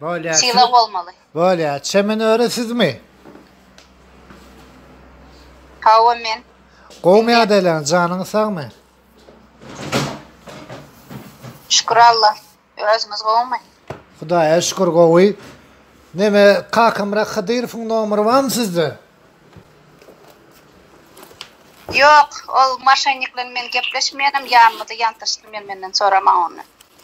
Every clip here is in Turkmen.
Bolýa Sylag bolmaly. Bolýa. Çemen öri sizmi? Hawa men. Gowmy ýadaýlaň janyňyz sagmy? Şükür Alla. Özüňiz gowmy? Hudaýa şükür gowy. Neme Kakamyrat Hydyrowyň nomeri barmy sizde? Ýok, ol maşennik bilen men gepleşmeýänem, ýanmydy, ýantaşdy, men menden soramaň ony.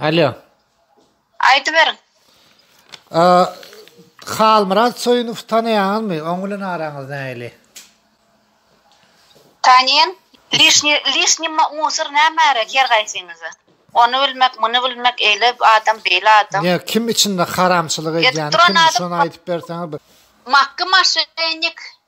Alo. Aýdyberiň. A, Halmyrat Soýunow tanaýaňyzmy? Oň bilen araňyz nähili? Tanýan. Lişni, lişni musor nämäre her gaýsyňyza. Ony bilmek, muny bilmek, eýle adam, beýle adam. Ýa kim içinde haramçylyk edýän, kim şony aýdyp berseňiz bir. Makgy maşennik.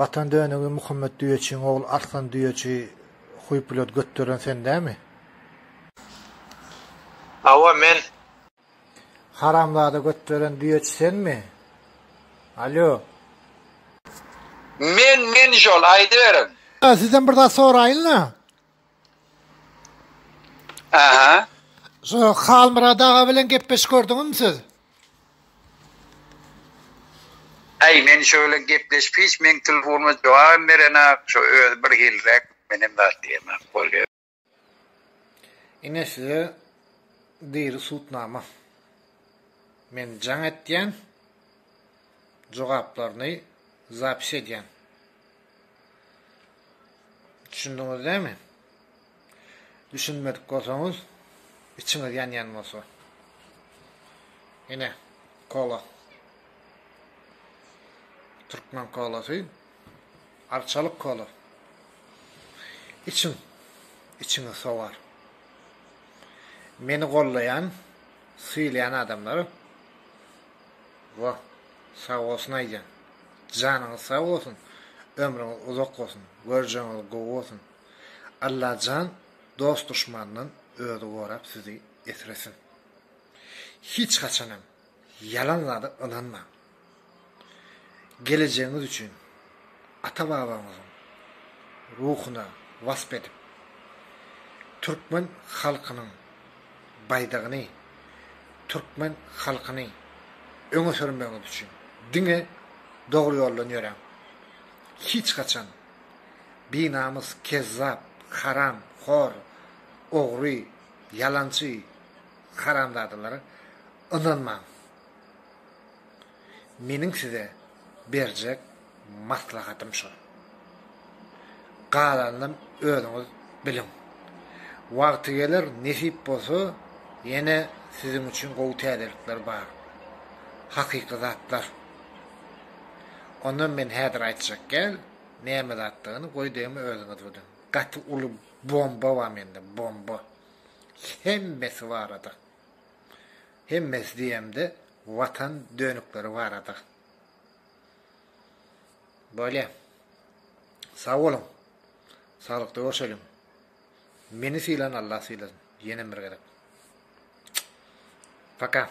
Watan dönügi Muhammet düýeçiň ogly Arslan düýeçi huýpulady götderen sen dämi? Hawa men. Haramzada götderen düýeçi senmi? Alýo. Men men şol aýdyberiň. Sizden bir zat soraýynla. Aha. Şu Halmyrat aga bilen gepleşip gördüňizmi siz? Äý, men şöyle gepleşip hiç meň telefonyma jogabam berenak, şu özi bir hilräk, menem zat diýemak bolýar. Ine size diri sudnama. Men jaň etýän, jogaplaryny zapis edýän. Düşündiňiz dämi? Düşünmedik bolsaňyz, içiňiz ýanýan bolsa. Ine, kola. Türkmen kolasy. Arçalyk kola. Içiň. Içiňiz sowar. Meni gollaýan, sylaýan adamlar Wah, sag bolsun Aýjan. Janyňyz sag bolsun, ömrüňiz uzak bolsun, görjegiňiz gowy bolsun. Allajan dost-duşmandan özi gorap sizi esresin. Hiç haçanam ýalan zada ynanmaň. Gelejegiňiz üçin ata-babaňyzyň ruhuna wasp edip, türkmen halkynyň Baýdagyny, türkmen halkyny öňe sürmegiňiz üçin diňe dogry ýoldan ýöräň. Hiç haçan binamys, kezzap, haram hor, ogry, ýalançy haramzadalara ynanmaň. Meniň size berjek maslahatym şol. Galanynam özüňiz biliň. Wagty geler, nesip bolsa, ýene siziň üçin gowy täzelikler bar. Hakyky zatlar. Onam men häzir aýtjak gel, näme zatdygyny, goý degme özüňiz biliň. Gaty uly bomba bar mende, bomba. Hemmesi barada. Hemmesi diýemde watan dönükleri barada. Bolýa. Sag boluň. Saglykda görşeliň. Meni sylan Allah sylasyn. Ýenem bir gezek. Paka.